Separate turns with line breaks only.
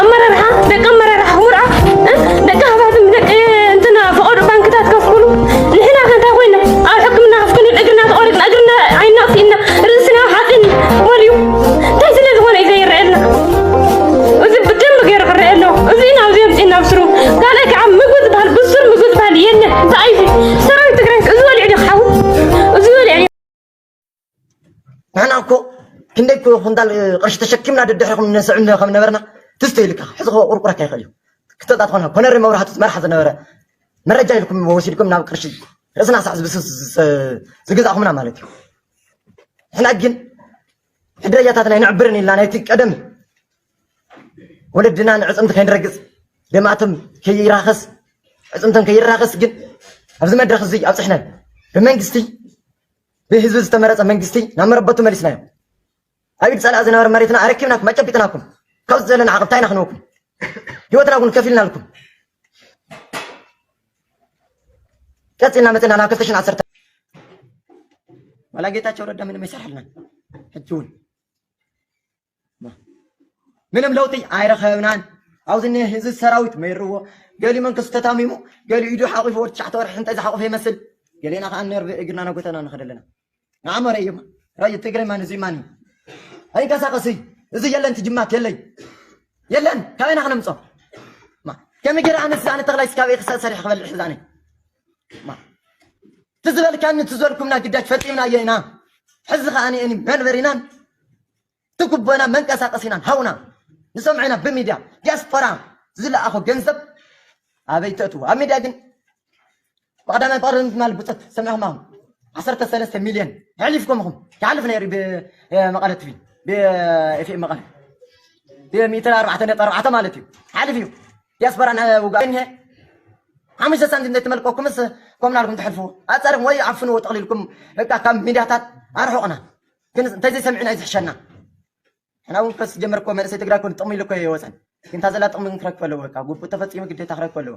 ኣመራርሓ ደቂ ኣመራርሓ ሁራ ደቂ ሃብታትም ደቂ እንትና ፈቐዶ ባንክታት ከፍ ኩሉ ንሕና ከ እንታይ ኮይና ኣብ ሕክምና ከፍ ክንብል እግርና ተቖሪጥና እግርና ዓይና ኣጥፊእና ርእስና ሓፂን ወልዩ እንታይ ስለ ዝኾነ እዩ ዘይረኣየልና እዚ ብደንብ ገይሩ ክረአ ኣለዎ እዚ ኢና ኣብዚ ኣምፂእና ብስሩ ካልእ ከዓ ምግቢ ዝበሃል ብሱር ምግቢ ዝበሃል የለን እንታይ እዩ ሰራዊት ትግራይ እዚ ወሊዑ ዶ ክሓዊ እዚ ወሊዑ
ንሕና እኮ ክንደይ እኮ ኩንታል ቅርሺ ተሸኪምና ደድሕሪ ከም ነስዕ ከም ነበርና ትስተ ኢልካ ሕዚ ከ ቁርቁረካ ይኽእል እዩ ክተጣ ትኾነ ኮነሪ መብራህቱ መርሓ ዝነበረ መረጃ ኢልኩም ወሲድኩም ናብ ቅርሺ ርእስና ሳዕ ዝብስስ ዝገዛእኹምና ማለት እዩ ንሕና ግን ሕድረጃታትና ይንዕብርን ኢልና ናይቲ ቀደም ወለድና ንዕፅምቲ ከይንረግፅ ደማእቶም ከይራኸስ ዕፅምቶም ከይራኸስ ግን ኣብዚ መድረኽ እዚ ኣብፅሕናን ብመንግስቲ ብህዝቢ ዝተመረፀ መንግስቲ ናብ መረበቱ መሊስናዮ። ኣብ ኢድ ፀላኢ ዝነበረ መሬትና ኣረኪብናኩም ኣጨቢጥናኩም። ካብዚ ዘለና ዓቕብ እንታይ ኢና ክንወኩም? ህይወትና እውን ከፊልናልኩም። ቀፂልና መፅና ናብ ክልተ ሽሕን ዓሰርተ ዋላ ጌታቸው ረዳ ምንም ኣይሰርሐልናን ሕጂ እውን ምንም ለውጢ ኣይረኸብናን ኣብዚ እኒሀ ህዚ ሰራዊት መይርዎ ገሊኡ መንከሱ ተታሚሙ ገሊኡ ኢዱ ሓቂፉ ወዲ ትሽዓተ ወርሒ እንታይ ዝሓቆፈ ይመስል ገሌና ከዓ ነርቭ እግርና ናጎተና ንኸደ ኣለና ንዓሞ ረእዩማ ረዩ ትግራይ ማን እዚ ማን እዩ ኣይንቀሳቀስ እዩ እዚ የለን ትጅማት የለይ የለን ካበይ ኢና ክነምፆ ከመይ ገይረ ኣነስ ኣነ ተኽላይ ስካበይ ክሳእ ሰሪሕ ክበልዕ ሕዛነ ትዝበልካኒ ትዘልኩምና ግዳጅ ፈፂምና እየ ኢና ሕዚ ከዓኒ መንበሪናን ትጉቦና መንቀሳቀሲናን ሃውና ንሰምዖ ኢና ብሚድያ ዲያስፖራ ዝለኣኾ ገንዘብ ኣበይ ተእትዎ ኣብ ሚድያ ግን ብቀዳማይ ፍቅሪ ምትማል ብፆት ሰሚዕኹም ኣኹም ዓሰርተ ሰለስተ ሚልዮን ኣሕሊፍኩም እኹም ይሓልፍ ነይሩ ብመቐለ ትቪ ብኤፍኤም መቐለ ብሚእትን ኣርባዕተ ነጥቢ ኣርባዕተ ማለት እዩ ሓልፍ እዩ ዲያስፖራ ውጋእ እኒሀ ሓሙሽተ ሳንቲም ዘይተመልቀኩምስ ኮምናልኩም ትሕልፍዎ ኣፀርኹም ወይ ዓፍንዎ ጠቕሊልኩም በቃ ካብ ሚድያታት ኣርሑቕና ግን እንተዘይሰሚዕና እዩ ዝሕሸና ሕና እውን ከስ ጀመር እኮ መንእሰይ ትግራይ ኮን ጥቕሚ ኢሉ እኮ ይወፀን ግን እታ ዘላ ጥቕሚ ግን ክረክብ ኣለዎ በቃ ጉቡእ ተፈፂሙ ግዴታ ክረክብ ኣለዎ